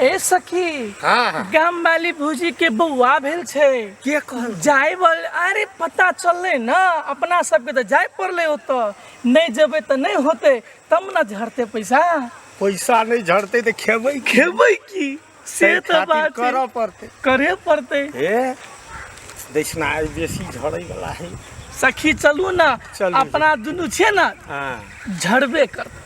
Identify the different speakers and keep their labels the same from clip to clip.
Speaker 1: ए सखी हाँ हाँ गाम
Speaker 2: वाली भूजी
Speaker 1: के बौआ भेल छै के कहल जाय
Speaker 2: बल अरे
Speaker 1: पता चलले ना अपना सबके तो जाय पड़ले ओतऽ नहीं जेबे तो नहीं होते तब ना झड़ते पैसा पैसा नहीं
Speaker 2: झड़ते तो खेबै खेबै की
Speaker 1: से ताहि तो खातिर बात है। करऽ पड़ते करे
Speaker 2: पड़ते
Speaker 1: हे
Speaker 2: दक्षिणा आइ बेसी झड़ै वाला है सखी चलू
Speaker 1: ना चलू। अपना दुनू
Speaker 2: छै
Speaker 1: ना हाँ झड़बे
Speaker 2: करते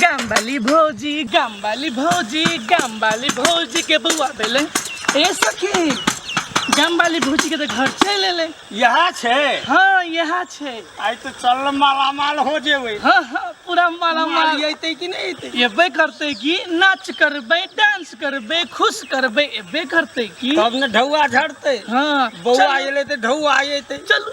Speaker 1: गामवाली भौजी गामवाली भौजी गामवाली भौजी के बौआ भेलै ए सखी गामवाली भौजी के तऽ घर चलि एलै यह छे
Speaker 2: हँ इएह
Speaker 1: छै आई तो चल
Speaker 2: माला माल हो जेबे हँ हँ पूरा
Speaker 1: माला माल माल अयते कि नहीं अयते
Speaker 2: एबे करतै कि
Speaker 1: नाच करबै डांस करबै खुश करबै एबे करतै कि तब ने ढौआ झड़ते
Speaker 2: हँ बौआ
Speaker 1: चलू, अयले तो
Speaker 2: ढौआ अयते चलू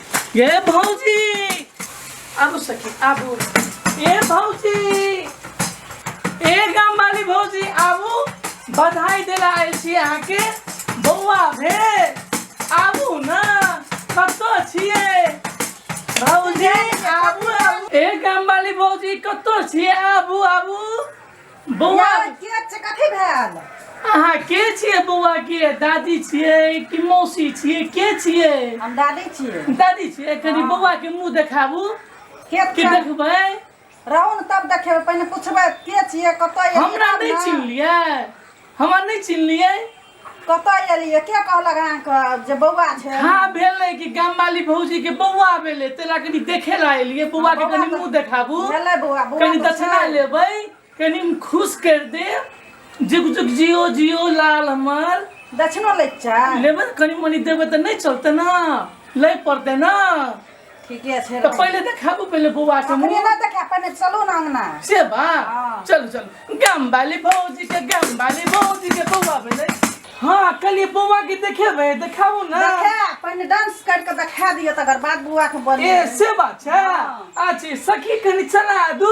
Speaker 1: ये भौजी आबू सखी आबू ए भौजी ए गाम वाली भौजी आबू बधाई देला आयल छी अहाँके बौआ भे आबू न कतऽ छियै भौजी आबू आबू ए गाम वाली भौजी कतऽ छियै आबू आबू बौआ यार के छै
Speaker 3: कथी भेल अहाँ के
Speaker 1: छियै बौआ के दादी छियै कि मौसी छियै के छियै हम दादी छियै
Speaker 3: दादी छियै कनि बौआ के
Speaker 1: मुंह देखाबू के कि छै
Speaker 3: देखबै
Speaker 1: रहू ने तब
Speaker 3: देखेबै पहिने पुछबै के छियै कतऽ एलियै हमरा तब नहि ने। चिन्हलियै
Speaker 1: हमरा नहि चिन्हलियै कतऽ एलियै
Speaker 3: के कहलक अहाँके जे बौआ छै हाँ भेलै कि
Speaker 1: गाम वाली भौजी के बौआ भेलै तेला कनी देखे ला एलियै बौआ के कनी मुंह देखाबू भेलै बौआ बौआ कनी
Speaker 3: तऽ दक्षिणा छै।
Speaker 1: लेबै कनी खुश कर दे जुग जुग जियो जियो लाल हमर दक्षिणो लैके
Speaker 3: छै लेबै ने कनी मनी
Speaker 1: देबै तऽ नहि चलतै ने लै पड़तै ने ठीके
Speaker 3: छै तऽ पहिले देखाबू पहिले
Speaker 1: बौआ के अपने मुंह ना देखा पहिने
Speaker 3: चलू ना अंगना से बा हाँ।
Speaker 1: चलू चलू
Speaker 3: गाम
Speaker 1: वाली भौजी के गाम वाली भौजी के बौआ भेलै हाँ कलिए बौआ के देखेबै देखाबू ना देखा पहिने डांस
Speaker 3: कर के देखा दियो तकर बाद बुआ के ए बोली से बात
Speaker 1: छै हाँ। अच्छे
Speaker 3: सखी कनी
Speaker 1: चला दू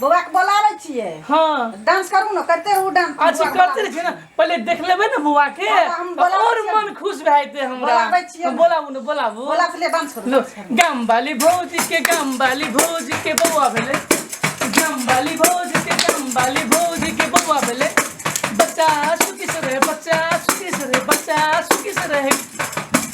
Speaker 1: बौआ के बोला
Speaker 3: लै छिए हाँ डांस
Speaker 1: करू ना करते
Speaker 3: रहू डांस अच्छा करते रहे ना
Speaker 1: पहले देख लेबे ना बुआ के और
Speaker 3: मन खुश भए
Speaker 1: जेते
Speaker 3: हमरा
Speaker 1: बोलाबै छिए बोलाबू
Speaker 3: ना बोलाबू बोला
Speaker 1: पहले डांस करू
Speaker 3: गाम वाली
Speaker 1: भौजी के गाम वाली भौजी के बौआ भेले गाम वाली भौजी के गाम वाली भौजी के बौआ भेले बच्चा सुखी से रहे बच्चा सुखी से रहे बच्चा सुखी से रहे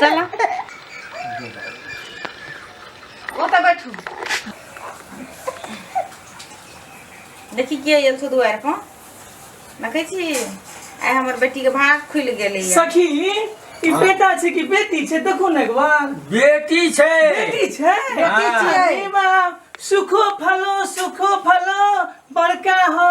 Speaker 4: चला
Speaker 3: ओतऽ बैठू
Speaker 4: देखी के आयल छौ दुआरि पर देखै छी आइ हमर बेटीके भाग खुलि गेलै सखी ई
Speaker 1: बेटा छै कि बेटी छै देखू ने एक बार बेटी छै
Speaker 2: बेटी छै
Speaker 1: बेटी छै। अरे
Speaker 3: बाप,
Speaker 1: सुखो फलो सुखो फलो बड़का हो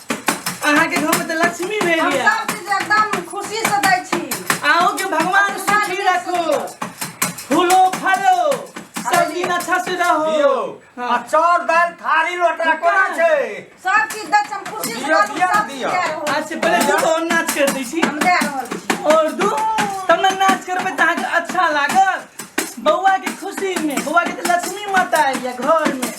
Speaker 1: अहाँ के घर में तो लक्ष्मी हम भेल या सब चीज एकदम
Speaker 3: खुशी से दै छी आओ के भगवान
Speaker 1: सुखी रखो फूलो फलो सब दिन अच्छा से रहो दियो आ हाँ।
Speaker 2: चाउर दालि थारी लोटा कोना छै सब चीज दै छी हम
Speaker 3: खुशी से दियौ, दै छी, दियौ, सब चीज दियौ। दए रहल
Speaker 2: आज से
Speaker 3: पहले दू गो
Speaker 1: नाच कर दै छी छी। हम दए रहल छी
Speaker 3: और दू
Speaker 1: तब ने नाच करबै तऽ अहाँके अच्छा लागत बौआ के खुशी में बौआ के तऽ लक्ष्मी माता आयल या घर में